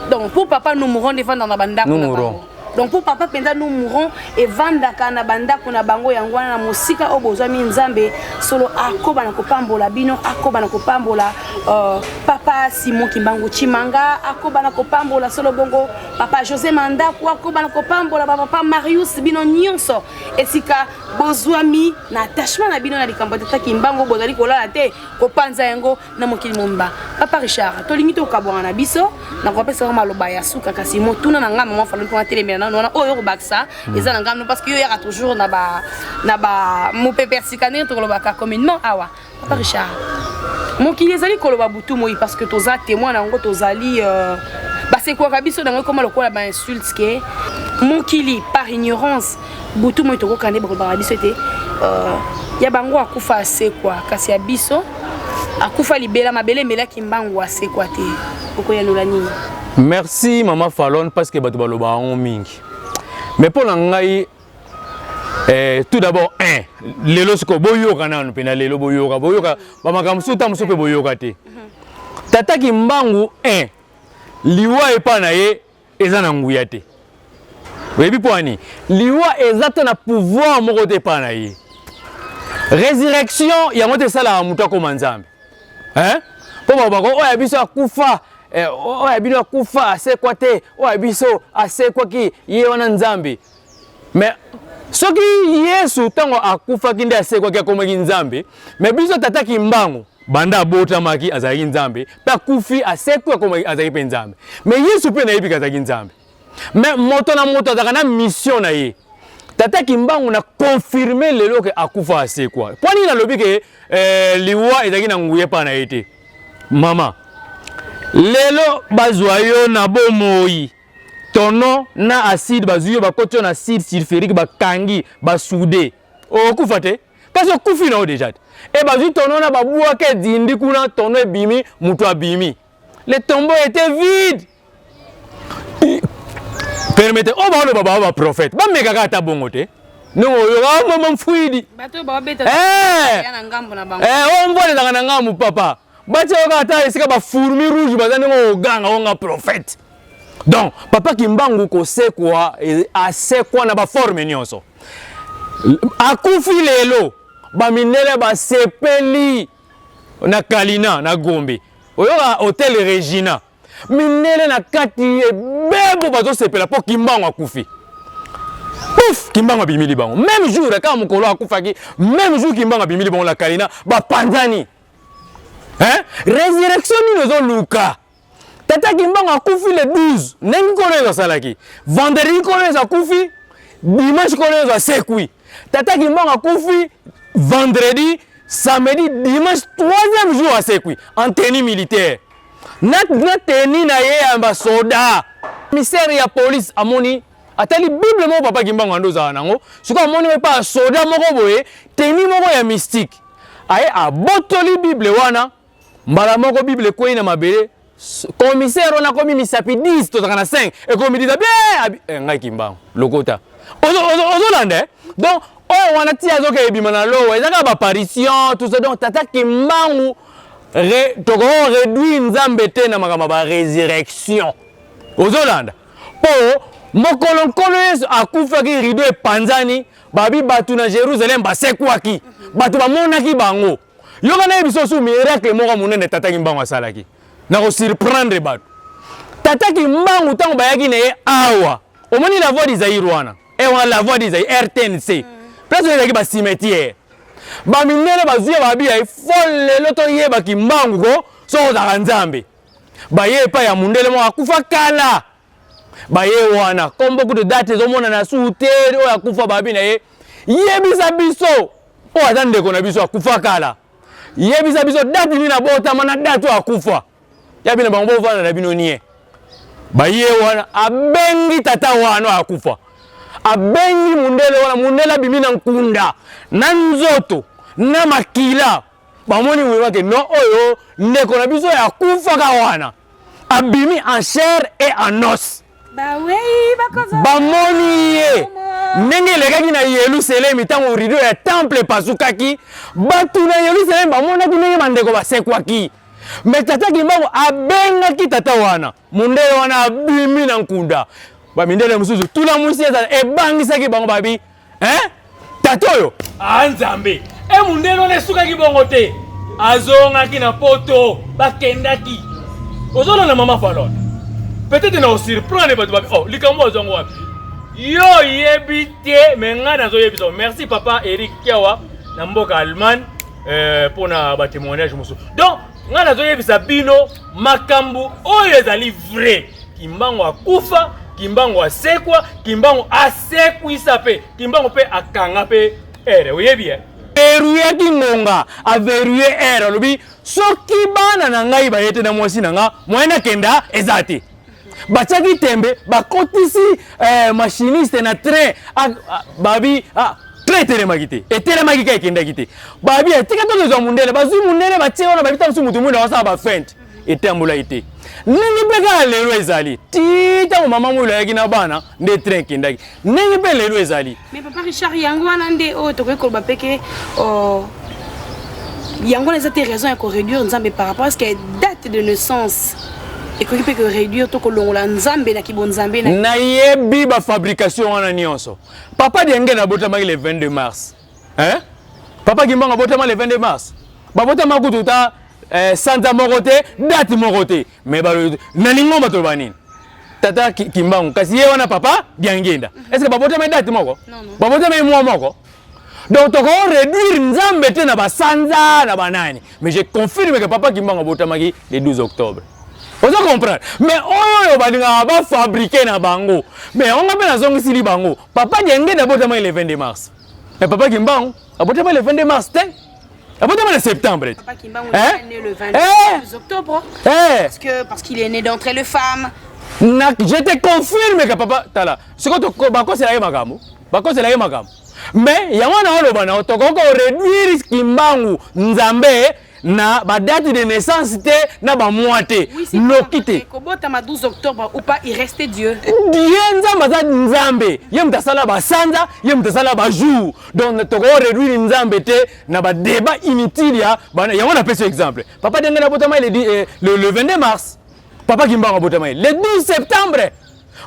donc mpo papa nous mourons devanda na bandako na bango donc mpo papa mpenza nous mourons evandaka na bandako na bango yango wana na mosika oyo bozwami nzambe solo akoba na kopambola bino akoba na kopambola uh, papa simon kimbangu chimanga akoba na kopambola solo bongo papa josé mandaku akobana kopambola bapapa marius bino nyonso esika bozwami na attachement na bino na likambo ya tata kimbango bozali kolala te kopanza yango na mokili momba papa richard tolingi tokabwana na biso nakopesa yango maloba ya suka kasi motuna na ngai mama falo mpona telemela nano wana oyo okobakisa hmm. eza na ngai no parce que yo yaka toujours na ba na ba mopepe ya sika ndenge tokolobaka communement awa papa richard mokili ezali koloba butu moi parce que toza témoin na yango tozali euh, basekwaka biso na yango ekoma lokola bainsulte ke mokili par ignorance butu moi tokokana nde bakobaka biso ete euh, ya bango akufa asekwa kasi ya biso akufa libela mabele emelaki mbangu asekwa te okoyanola nini merci mama falon parce que bato balobaka yango mingi mais mpo na ngai Eh, tout d'abord un lelo sikoyo boyoka nanu mpe na lelo boyoka boyoka bamakambo mosusu ta mosusu mpe boyoka te tata kimbangu un liwa epai na ye eza na nguya te oyebi mpo ani liwa eza te na pouvoir moko te epai na ye résurrection yango te esalaka moto akoma nzambe mpo babako oyo ya biso akufa eh, oyo ya bino akufa asekwa te oyo ya biso asekwaki ye wana nzambe mais soki yesu ntango akufaki nde asekwaki akomaki nzambe me biso tata kimbangu banda abotamaki azalaki nzambe mpe akufi asekwi akomaki azalaki mpe nzambe me yesu mpe nayebiki azalaki nzambe me moto na moto azalaka na mission na ye tata kimbangu na confirme lelo ke akufa asekwa mpo nini nalobi ke eh, liwa ezalaki na nguya epai na ye te mama lelo bazwa yo na bomoi tonon na acide bazwi yo bakoti yo na acide sulfurique bakangi basude okufa te kasi okufi na yo deja te e bazwi tono na babwaka edindi kuna tono ebimi moto abimi le tombeau était vide permete oyo baoloba baa baprofete bamekaka ata bongo te ndenge oyoka ah, mama mfuidi eh! eh, oyo mvua elelaka na ngambu papa batia yo kaka ata esika ba fourmi rouge baza ndenge oganga onga prophète donc papa kimbangu kosekwa e, asekwa na baforme nyonso akufi lelo bamindele basepeli na kalina na gombe oyoka hotel regina mindele na kati ebebo bazosepela mpo kimbangu akufi puf kimbangu abimili bango meme jour kaka mokolo akufaki meme jour kimbangu abimili bango na kalina bapanzani hein résurrection nini ozoluka tata kimbangu akufi le 12 ndenge nkolo yesu asalaki vendredi nkolo yesu akufi dimanche nkolo yesu asekwi tata kimbangu akufi vendredi samedi dimanche troisième jour asekwi en tenue militaire na, na tenue na ye ya basoda commissaire ya police amoni atali bible moko papa kimbangu ando ozala nango soki amoni epa ya soda moko boye teni moko ya mystique aye abotoli bible wana mbala moko bible ekwei na mabele commissaire wana akomi misapi 10 tozalaka na 5 ekomi dida bie eh, ngai kimbangu lokota ozolanda eh? donc oyo oh, wana ti azoka ebima na lowa ezaka baparition tout ça donc tata kimbangu tokoki réduire nzambe te na makambo ya baresurrection ozolanda Mpo mokolo Nkolo Yesu akufaki, rido epanzani, babi bato na Jerusalem basekwaki, bato bamonaki bango. Yoka nayebi sosu miracle moko monene Tata Kimbangu asalaki na kosurprendre bato. Tata Kimbangu ntango bayaki na ye awa, omoni la voix du Zaïre wana, e eh, wana la voix du Zaïre, RTNC, mm. place oyo ezalaki bacimetière bamindele bazwi ya babi ya ifo lelo toyeba Kimbangu ko soki ozalaka Nzambe baye epai ya mundele moko akufa kala baye wana kombo kutu date ezomonana su te oyo akufa babi na ye yebisa biso oyo aza ndeko na biso akufa kala yebisa biso date nini abotama na date oyo akufa ya bino bango bovanda na bino nie baye wana abengi tata wana oyo akufa abengi mundele wana mundele abimi na nkunda na nzoto na makila bamoni vraiment que non oyo ndeko na biso ya kufaka wana abimi en chair et en os bamoni ye ndenge elekaki na yelusalemi ntango rido ya temple epasukaki bato na yelusalemi bamonaki ndenge bandeko basekwaki me tata kimbangu abengaki tata wana mondele wana abimi na nkunda bamindele mosusu tula mwisi ezala ebangisaki bango babi eh? tata oyo ah, nzambe e mondele wana esukaki bongo te azongaki na poto bakendaki ozolona mama falon peut-être na osurprendre bato babi oh, likambo azwango wapi yo oyebi te me ngai nazoyebisa merci papa eric kiawa na mboka allemagne mpo euh, na batémoignage mosusu donc ngai nazoyebisa bino makambo oyo ezali vrai kimbango akufa kimbango asekwa kimbango asekwisa mpe kimbango mpe akanga mpe ere oyebi eh? verrouille kingonga averrouille aire alobi soki bana na ngai baye te na mwasi na nga moyen nakenda eza te batiaki tembe bakotisi eh, machiniste na train ah, ah, babi ah, train etelemaki te etelemaki ka ekendaki te babi etika to tozwa mundele bazwi mundele batie wana babi ntango mosusu motu mwinda wasala bafente etambolaki te ndenge mpe kaka lelo ezali ti ntango mama mwilo ayaki na bana nde train ekendaki ndenge mpe lelo ezali mais papa richard yango wana nde oyo tokoki koloba mpe ke oh, yango wana eza te raison ya koréduire nzambe par rapport ce que date de naissance ekoki mpe koréduire to kolongola nzambe na kibonzambe nayebi bafabrication wana nyonso papa diange nabotamaki le 22 mars hein? papa kimbango abotama le 22 mars babotama kutu ta eh, sanza moko te date moko te Mais balobi na lingomba toloba nini? Tata Kimbangu kasi ye wana papa Diangenda. Mhm. Est-ce que babotama date moko? Babotama mwa moko? Donc toko réduire Nzambe te na basanza na banani. Mais je confirme que papa Kimbangu abotamaki le 12 octobre. ozo comprendre mais oyo oyo balingaka bafabrike na bango mais yango mpe nazongisili bango papa diangenda abotama le 22 mars mais papa kimbangu abotama le 22 mars te abotama na septembre Papa Kimbangu Hein? est né le 22 Eh octobre Eh parce que parce qu'il est né d'entre les femmes. na je te confirme ka papa tala sikoyo toko- bakosela ye makambo bakosela ye makambo mais yango wana oloba nao tokoki koreduire kimbangu nzambe na badate de naissance te na bamwa te Oui, c'est loki te Kobotama 12 octobre ou pas, il restait Dieu. ye nzambe aza nzambe ye moto asala basanza ye moto asala bajour donc toko réduire nzambe te na ba débat inutile ya bana yango na pesi exemple papa denge na botama le, eh, le, le 22 mars papa kimbango botama le 12 septembre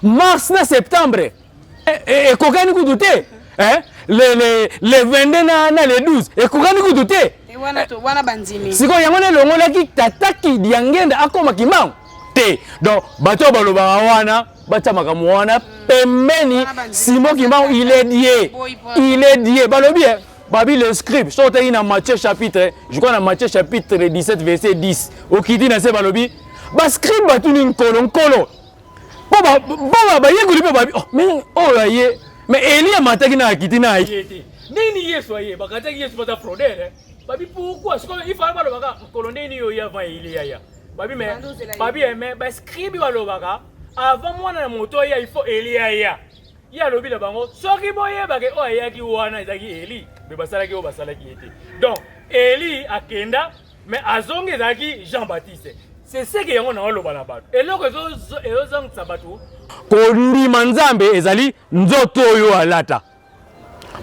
mars na septembre ekokani kutu te eh? le, le, le 22 na, na le 12 ekokani kutu te sikoyo yango nelongolaki tata kidiangenda akoma kimbango te donc bato oyo balobaka wana batia makambo wana pembeni simo kimbangu il est die il est die balobi eh, babi le scribe soki oteki na matthieu chapitre je crois na matthieu chapitre 17 verset 10 okiti na se balobi bascribe batuni nkolo nkolo mpo bayekoli mpe babi oh, me oyo aye me eli amataki na akiti na aye te nini yesu aye bakataki yesu baza frodere eh? babi pourkoi sikoyo ifala balobaka nkolo ndeni yo yava eliya ya babi me babi eme ba scribi balobaka avant mwana na moto aya il faut eli aya ye alobi na bango soki boyebaka oyo ayaki wana ezalaki eli me basalaki oyo basalaki ye te donc eli akenda me azongi ezalaki jean baptiste seseke yango na oloba na bato eloko ezozongisa bato kondima nzambe ezali nzoto oyo alata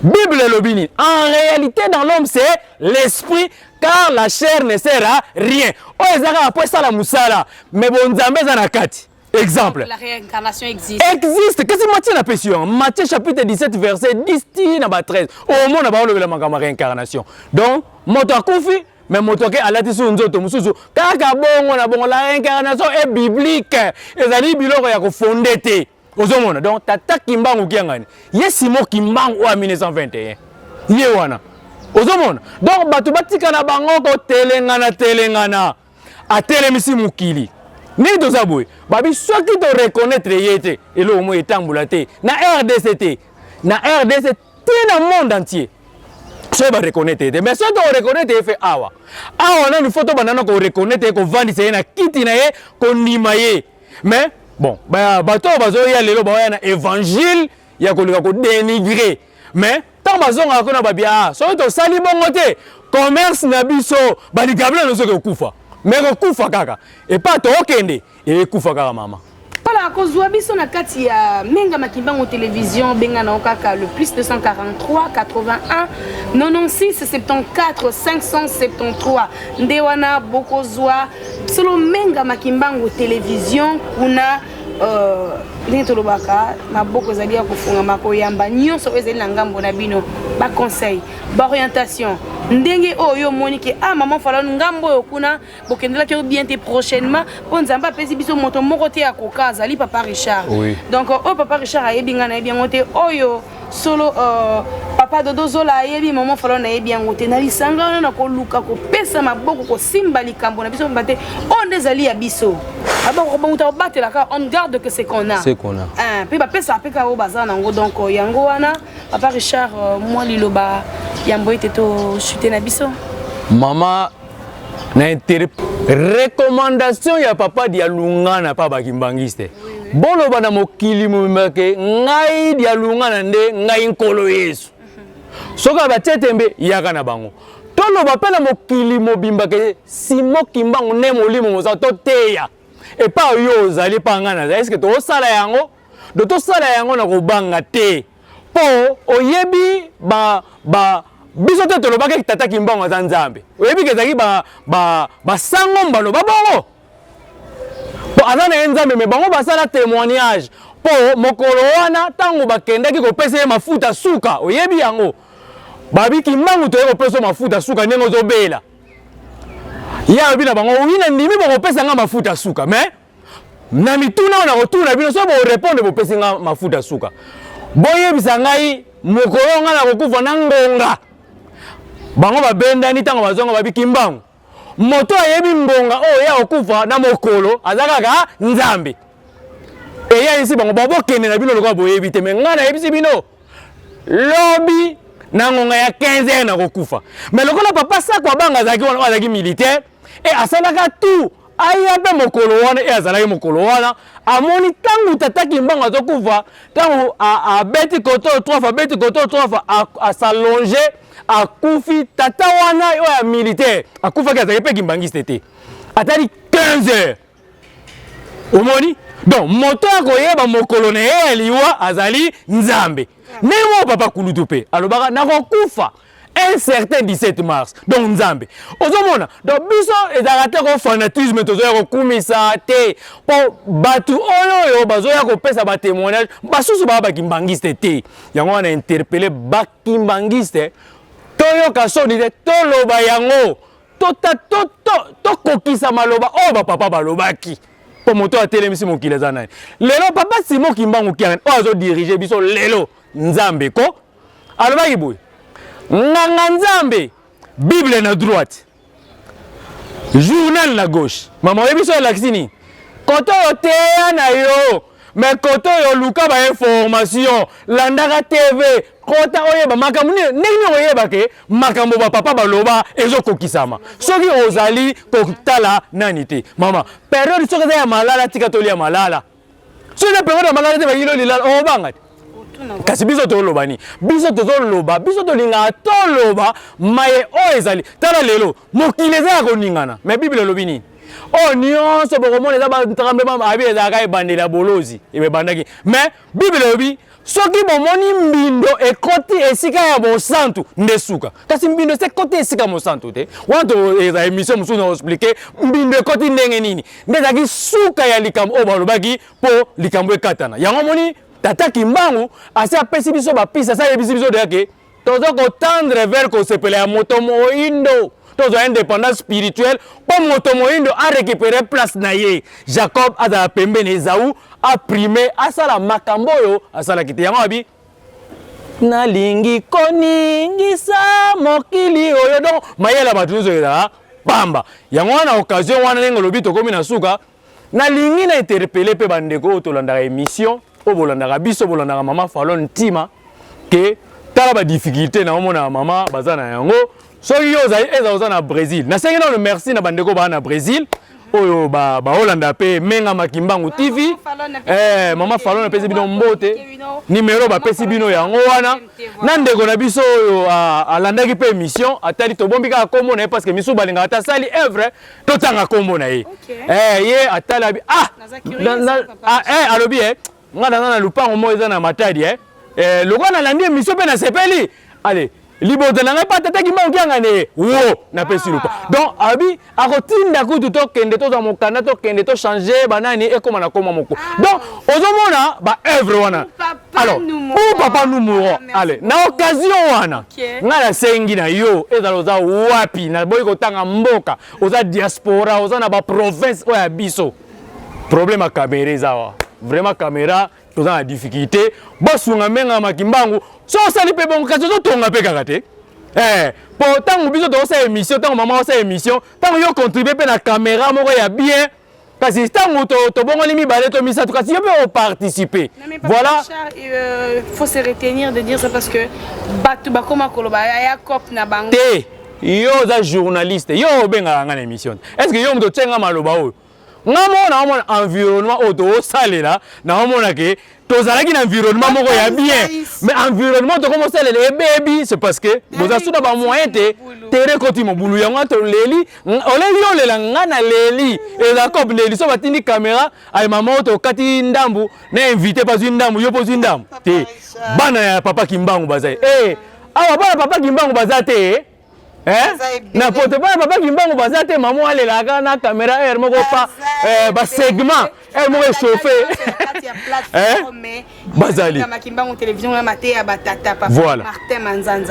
Bible elobi nini? En réalité dans l'homme c'est l'esprit car la chair ne sert à rien. Oyo eza kaka mpo esala mosala mais bonzambe eza na kati. Exemple. La réincarnation existe. Existe. Kasi Matthieu na pesi yo. Matthieu chapitre 17 verset 10 ti na ba 13. Au monde ba olobela makambo réincarnation. Donc moto akufi me moto ake alati su nzoto mosusu kaka bongo na bongo la réincarnation est biblique ezali biloko ya kofonde te ozomona donc tata kimbangu kiangani ye simo kimbangu oyo ya 1921 ye wana ozomona donc bato batika na bango kotelengana telengana atelemisi mokili ndenge toza boye babi soki toreconnaitre ye te eloko moi etambola te na rdc te na rdc te na monde entier soki bareconnaitre ye te mais soki toreconnaitre ye fe awa awa nanu fo tobanda na koreconnaitre ye kovandisa ye na kiti na ye kondima ye mais bon bato oyo bazoya lelo baoya na évangile ya kolinga kodenigre mais ntango bazongaka kuna babia ah, soki tosali bongo te commerce na biso baligabla nozoki okufa me kokufa kaka epa tookende ekufa kaka mama mpala kozwa biso na kati ya menga makimbango television benga nao kaka le plus 243 81 96 74 573 nde wana bokozwa solo mengama kimbangu television kuna euh, ndenge tolobaka maboko ezali ya kofungama koyamba nyonso oyo ezali na ngambo na bino baconseil baorientation ndenge oyo yo omoni ke ah maman falon ngambo oyo kuna bokendelaki yo bien te prochainement mpo nzambe apesi biso moto moko te akoka azali papa richard oui. donc oyo papa richard ayebi ngai nayebi yango te oyo solo uh, papa dodo zola ayebi mama falo nayebi yango te na lisanga wana na koluka kopesa maboko kosimba likambo na biso mba te oyo nde ezali ya biso bakobamuta kobatelaka on garde que c'est qu'on a mpe bapesaka mpe kaka oyo baza nango donc euh, yango wana papa richard euh, mwa liloba yambo ete tosute na biso mama na intérêt recommandation ya papa dialungana pa bakimbangiste boloba na mokili mobimba ke ngai dialungana nde ngai nkolo yesu soki batie tembe yaka na bango toloba mpe na mokili mobimba ke simo kimbangu nde molimo moza toteya epa yo ozali epa ngai naza eske tosala yango do tosala yango na kobanga te mpo oyebi ba, ba, biso te tolobaki ete tata kimbangu aza nzambe oyebi ke ezalaki basango ba, ba mbalo babongo mpo aza na ye nzambe me bango basala témoignage mpo mokolo wana ntango bakendaki kopesa ye mafuta suka oyebi yango babi kimbangu toye kopesa mafuta suka ndenge ozobela ye alobi na bango wi na ndimi bokopesa nga mafuta suka mais na mituna oyo nakotuna bino soki bokorepondre bopesi nga mafuta suka boyebisa ngai mokolo ngai nakokufa na ngonga bango babendani ntango bazonga babi kimbangu moto ayebi ngonga oyo ye akokufa na mokolo aza kaka nzambe eyebisi bango babokende na bino lokola boyebi te me ngai nayebisi bino lobi na ngonga ya 15 heure nakokufa me lokola papa sako abanga azalaki wana oyo azalaki militaire e asalaka tout aya mpe mokolo wana e azalaki mokolo wana amoni ntango tata kimbangu azokufa ntango abeti koto trofa abeti koto trofa asalonge akufi tata wana oyo ya militaire akufaki azalaki mpe kimbangiste te atali 15 heures omoni donc moto ya koyeba mokolo na ye ya liwa azali nzambe ndenge moko papa kulutu mpe alobaka nakokufa un certain 17 mars donc nzambe ozomona donc biso ezalaka te ko fanatisme tozoya kokumisa te mpo bato oyo oyo bazoya kopesa batémoignage basusu baa bakimbangiste te yango wana interpele bakimbangiste toyoka soni te toloba yango tokokisa maloba oyo bapapa balobaki mpo moto atelemisi mokili eza nani lelo papa simo kimbangu kiangani oyo azodirige biso lelo nzambe ko alobaki boye nganga nzambe bible na droite journal na gauche mama oyebi so elakisi nini kote oyo teya na yo me kote oyo luka bainformation landaka tv kota oyeba makambo nini ndenge nini okoyeba ke makambo bapapa baloba ezokokisama soki ozali kotala nani te mama periode soki eza ya malala tika tolia malala soki na periode ya maladi te bayilo lilala obanga te kasi biso toloba nini biso tozoloba biso tolingaka toloba maye oyo ezali tala lelo mokili eza ya koningana me biblia elobi nini oyo nyonso bokomona eza batremblement abi ezalaka ebandeli ya bolozi ebandaki me biblia elobi soki bomoni mbindo ekoti esika ya mosantu nde suka kasi mbindo esi ekoti esika mosantu te wana toeza emission mosusu na explike mbindo ekoti ndenge nini nde ezalaki suka ya likambo oyo balobaki mpo likambo ekatana yango omoni tata kimbangu asi apesi biso bapisi asi ayebisi biso deya ke toza kotendre vers kosepela ya moto moindo tozwa indépendance spirituelle mpo moto moindo arécupere place na ye jacob azala pembeni ezau aprime asala makambo oyo asalaki te yango abi nalingi koningisa mokili oyo donc mayele ya bato nyonso ezala pamba yango wana occasion wana ndenge olobi tokómi na suka nalingi na interpele mpe bandeko oyo tolandaka émission oyo bolandaka biso bolandaka mama falon ntima ke tala badifficulté na omonaka mama baza na yango soki yo ozali eza oza na brésil nasengi nano merci na bandeko baa na brésil oyo baolanda mpe menga makimbangu tv eh, mama falon apesi bino mbote nimero bapesi bino yango wana na ndeko na biso oyo alandaki mpe émission atali tobombi kaka nkombo na ye parce que misusu balingaka ata asali evre totanga nkombo na ye eh, ye atala ah, ah eh, alobi e nga naza na lupango moko eza na matadi e eh, lokola nalandi emission mpe nasepeli ale libota na ngai mpe atata kimbangu kianga ne wo napesi ah. lupa donc abi akotinda kutu tokende tozwa mokanda tokende tochange banani ekóma na koma moko ah. donc ozomona baœuvre wana alors ou papa numuro ale na occasion wana ngai nasengi na yo ezala oza wapi naboyi kotanga mboka oza diaspora oza na baprovince oyo ya biso problème ya kamera eza wa vraiment kamera toza na difficulté bosunga mbenga makimbangu so osali mpe bongo kasi ozotonga mpe kaka te eh, mpo ntango biso tokosala émission ntango mama osala émission ntango yo contribue mpe na kamera moko ya bien kasi ntango tobongoli to mibale to misato kasi yo mpe oparticipe voilà euh, faut se retenir de dire ça parce que bato bakoma koloba ya cop na bango te yo oza journaliste yo obengaka ngai na émission est ce que yo moto otyenga maloba oyo nga moko naomona environnement oyo toosalela naomona ke tozalaki na environnement moko ya bien mais environnement tokomi osalela ebebi c'est parce que boza suda bamoyen te tere ekoti mobulu yango wana toleli oleli olela nga na leli ezakob leli so batindi kamera aye mama oyo tokati ndambu na invité bazwi ndambu yo mpo ozwi ndambu te bana ya papa kimbangu baza ye eh, awa bana papa kimbangu baza te eh. na poto bana papa kimbangu baza te mama alelaka na caméra heure moko pa eh, ba segment heure moko echauffe bazali voilà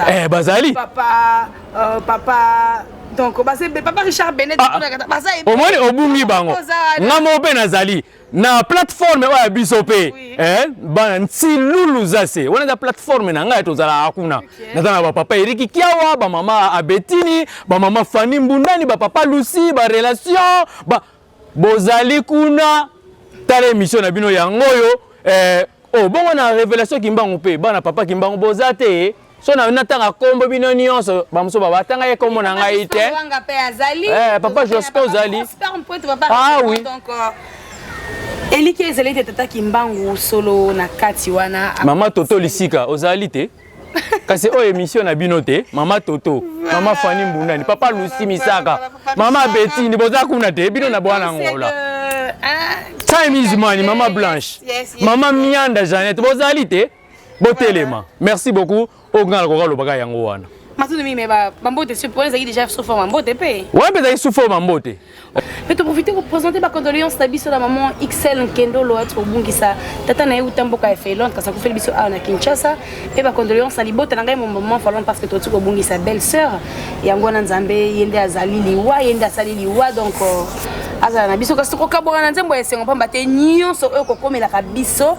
eh, bazali papa euh, papa donc papa richard benet ah, ah. omoni obungi bango nga moko mpe nazali na plateforme oyo ya biso mpe oui. eh, bana ntilulu zase wana eza plateforme na ngai tozalaka kuna okay. naza na bapapa eriki kiawa bamama abetini bamama fani mbundani bapapa lusi barelation ba... bozali kuna tala émission na bino yango oyo eh, oh, bongo na révélation kimbangu mpe bana papa kimbangu boza te so na natanga kombo bino nyonso bamosusu baba atanga ye kombo na ngai te eh, papa josko ozali awi ah euh, eliki ezali te tata kimbangu solo na kati wana mama toto lisika ozali te kasi oyo émission na bino te mama toto mama fani mbundani papa lusi misaka mama betini boza kuna te bino na bwana ngola time is money mama blanche mama mianda janete bozali te botelema merci beaucoup oyo ngai nakoka lobaka yango wana matuni mime bambote soki mpona ezalaki déjà sous forme mbote mpe wana mpe ezalaki sous forme mbote mpe toprofite kopresente bacondoléance na biso na maman xl nkendolo ati kobungisa tata na ye uta mboka ya finlande kasi akufeli biso awa na kinshasa mpe bacondoléance na libota na ngai momaman falon parce que toti kobungisa belle sœur yango wana nzambe ye nde azali liwa ye nde asali liwa donc euh, azala na biso kasi tokokabwana na nzembo ya esengo mpamba te nyonso oyo kokomelaka biso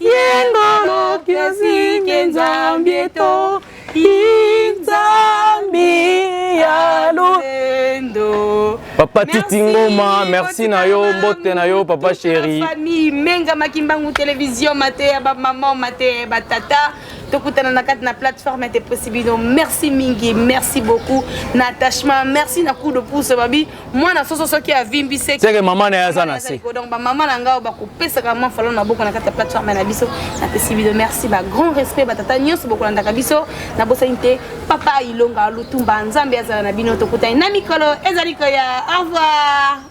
Yengolo kiosike nzambi eto inzambi ya lolendo Papa Titi Ngoma, merci na yo, mbote na yo, papa chéri. Famille Menga Makimbangu Télévision, Matéa, ba maman, Matéa, ba tata. tokutana na kati na plateforme ya te possibino merci mingi merci beaucoup na attachement merci na coup de pouce babi mwana soso soki avimbi se seke mama na ye aza na se donc bamama na ngai bakopesaka mwa falo na boko na kati ya plateforme na biso napesi bino merci ba grand respect batata nyonso bokolandaka biso nabosani te papa ilonga lutumba nzambe azala na bino tokutani na mikolo ezali koya au revoir